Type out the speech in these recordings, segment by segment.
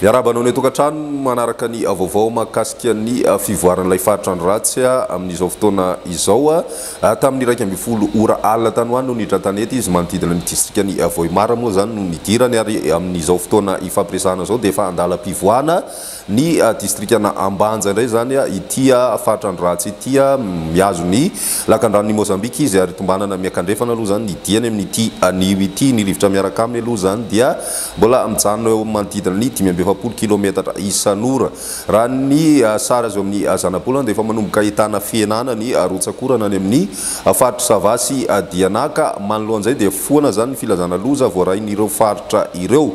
Miarahaba anao ny atokantrano manaraka ny vaovao mahakasika ny fivoaran'ilay faritrandro ratsy amin'izao fotoana izao. Tamin'ny iraika ambin'ny folo ora alina tany ho any no niditra an-tanety izy manodidina ny distrikan'i Vohemar moa izany no nidirany ary amin'izao fotoana ifampiresahana izao dia efa an-dalam-pivoahana Ny distrikan'i Ambanja indray izany, ity faritra Androratsy ity, mihazo ny lakandranon'i Mozambika izy ary tombanana miankandrefana aloha izany ny diany amin'ity anio ity. Ny rivotra miaraka aminy aloha izany dia mbola mijanona eo amin'ny manodidina ny dimy amby efapolo kilometatra isan'ora. Raha ny sary azo amin'ny zanabolana dia efa manomboka ahitana fihenana ny rotsak'orana any amin'ny faritr'i Sava sy Dianaka. Manoloan'izay dia foana izany ny filazana loza voarain'ireo faritra ireo.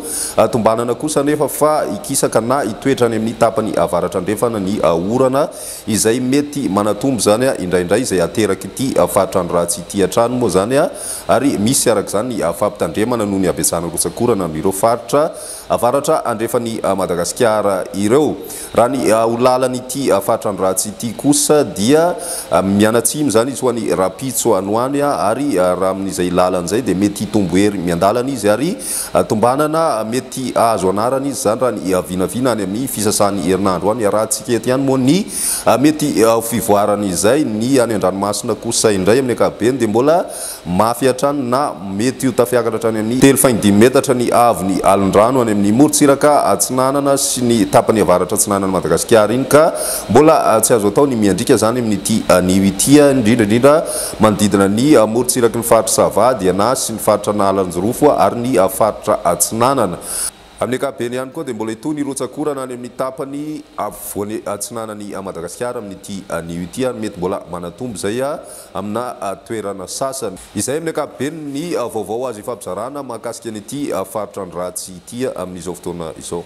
Tombanana kosa anefa fa hikisaka na hitoetra any amin'ny tapany avaratra-andrefana ny orana izay mety manatombo izany indraindray izay aterak'ity fahantrano ratsy ity hatrany moa izany ary misy araka izany ny fampitandremana noho ny habetsahan'ny rotsakorana amin'ireo faritra avaratra andrefan'i Madagasikara ireo. Raha ny ho lalan'ity fahantrano ratsy ity kosa dia mianatsimo izany izy ho any rahampitso any ho any ary raha amin'izay lalany izay dia mety hitombo hery miandalana izy ary Tombanana mety hahazo anarana izy izany raha ny vinavina any amin'ny fisasan'ny herinandro any. Arahantsika eto ihany moa ny mety ho fivoaran'izay. Ny any an-dranomasina kosa indray amin'ny ankapobeny dia mbola mafy hatrany na mety ho tafiakatra hatrany amin'ny telo faingo dimy metatra ny haavon'ny alin-drano any amin'ny morontsiraka atsinanana sy ny tapany avaratra-atsinanan'i Madagasikara iny ka mbola tsy azo atao ny miandriaka izany amin'ity anio ity indrindra indrindra Manodidina ny morontsiraky ny faritra Sava, Diana sy ny faritra Analanjirofo ary ny faritra Atsinanana. Amin'ny ankapobeny ihany koa dia mbola hitohy ny rotsak'orana any amin'ny tapany afovoany atsinanan'i Madagasikara amin'ity anio ity ary mety mbola manatombo izay amina toerana sasany. Izay amin'ny ankapobeny ny vaovao azo ifampizarana mahakasika an'ity faritran-dratsy ity amin'izao fotoana izao.